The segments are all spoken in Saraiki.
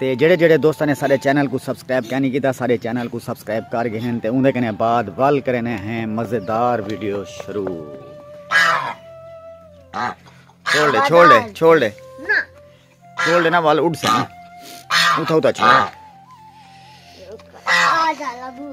تے جڑے جڑے دوستاں نے سارے چینل کو سبسکرائب کینی کیتا سارے چینل کو سبسکرائب کر گئے ہیں تے اوندے کنے بعد ول کرنے ہیں مزیدار ویڈیو شروع چھوڑ دے چھوڑ دے چھوڑ دے چھوڑ دے نا ول اڑ سن اٹھا اٹھا چھوڑ آ جا لبو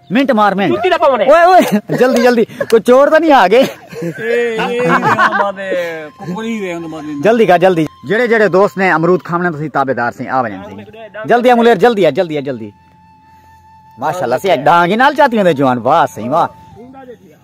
منٹ مار منٹ جوتی دا پونے اوئے اوئے جلدی جلدی کوئی چور تاں نہیں آ گئے جلدی کا جلدی جڑے جڑے دوست نے امرود کھاونے تسی تابعدار سی آ ونجن سی جلدی ہے ملیر جلدی ہے جلدی ہے جلدی ماشاءاللہ سی ڈانگی نال چاتی ہوندے جوان واہ سی واہ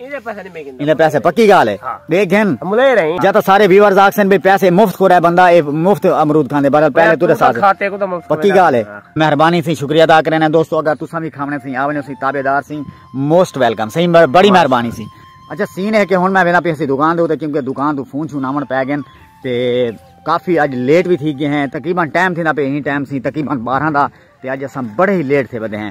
ایندے پیسے پکی گال ہے دے گھن جا تا سارے ویورز آکسن بے پیسے مفت کھو رہے بندہ اے مفت امرود کھاندے بارد پہلے تو رسا سے پکی گال ہے مہربانی سی شکریہ دا کرنے دوستو اگر تو سامی کھامنے سی آونے سی تابے دار سی موسٹ ویلکم سی بڑی مہربانی سی اچھا سین ہے کہ ہون میں وینا پیسی دکان دے ہوتے کیونکہ دکان دو فون چھو نامن پہ گن تے کافی اج لیٹ بھی تھی گئے ہیں تقریبا ٹائم تھی نا پہ ہی ٹائم سی تقریبا بارہ دا تے اج اساں بڑے ہی لیٹ تھے بدے ہیں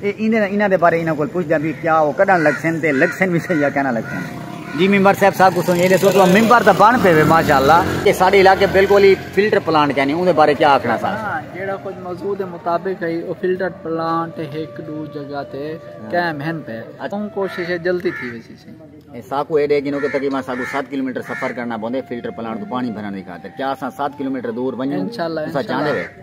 اے ایندے نال انہاں دے بارے انہاں کول پچھدے ہاں بی کیا او کڈھن لگسن تے لگسن وی سہی یا کہنا لگسن جی ممبر صاحب سا کچھ سنجے دے سو تو ممبر دا بن پے وے ماشاءاللہ کہ ساڈے علاقے بالکل ہی فلٹر پلانٹ کہنی اون دے بارے کیا آکھنا سا جیڑا کچھ موضوع دے مطابق ہے او فلٹر پلانٹ ہک دو جگہ تے قائم ہن پے اون کوشش ہے جلدی تھی ویسی سی اے ساکو اے دے گنو کہ تقریبا ساکو 7 کلومیٹر سفر کرنا بوندے فلٹر پلانٹ تو پانی بھرن دی خاطر کیا اساں 7 کلومیٹر دور ونجوں انشاءاللہ انشاءاللہ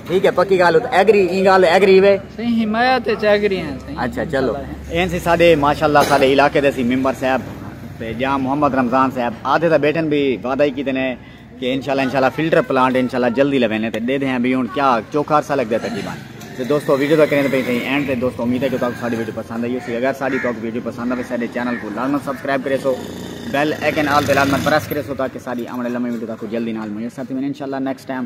ٹھیک ہے پکی گال ات ایگری ایں گال ایگری وے سہی حمایت اچ ایگری ہیں سہی اچھا چلو این سی ساڈے ماشاءاللہ ساڈے علاقے دے سی ممبر صاحب تے جا محمد رمضان صاحب آدھے دا بیٹن بھی وعدہ ہی کیتے نے کہ انشاءاللہ انشاءاللہ فلٹر پلانٹ انشاءاللہ جلدی لوینے تے دے دے ہیں بھی ہن کیا چوکھا عرصہ لگ دے تقریبا تے دوستو ویڈیو دا کریں تے پئی سہی اینڈ تے دوستو امید ہے کہ تاکو ساڈی ویڈیو پسند آئی ہوسی اگر ساڈی تاکو ویڈیو پسند آوے ساڈے چینل کو لازم سبسکرائب کرے سو بیل ایکن آل تے لازم پریس کرے سو تاکہ ساڈی آمنے لمے ویڈیو تاکو جلدی نال میسر تھی انشاءاللہ نیکسٹ ٹائم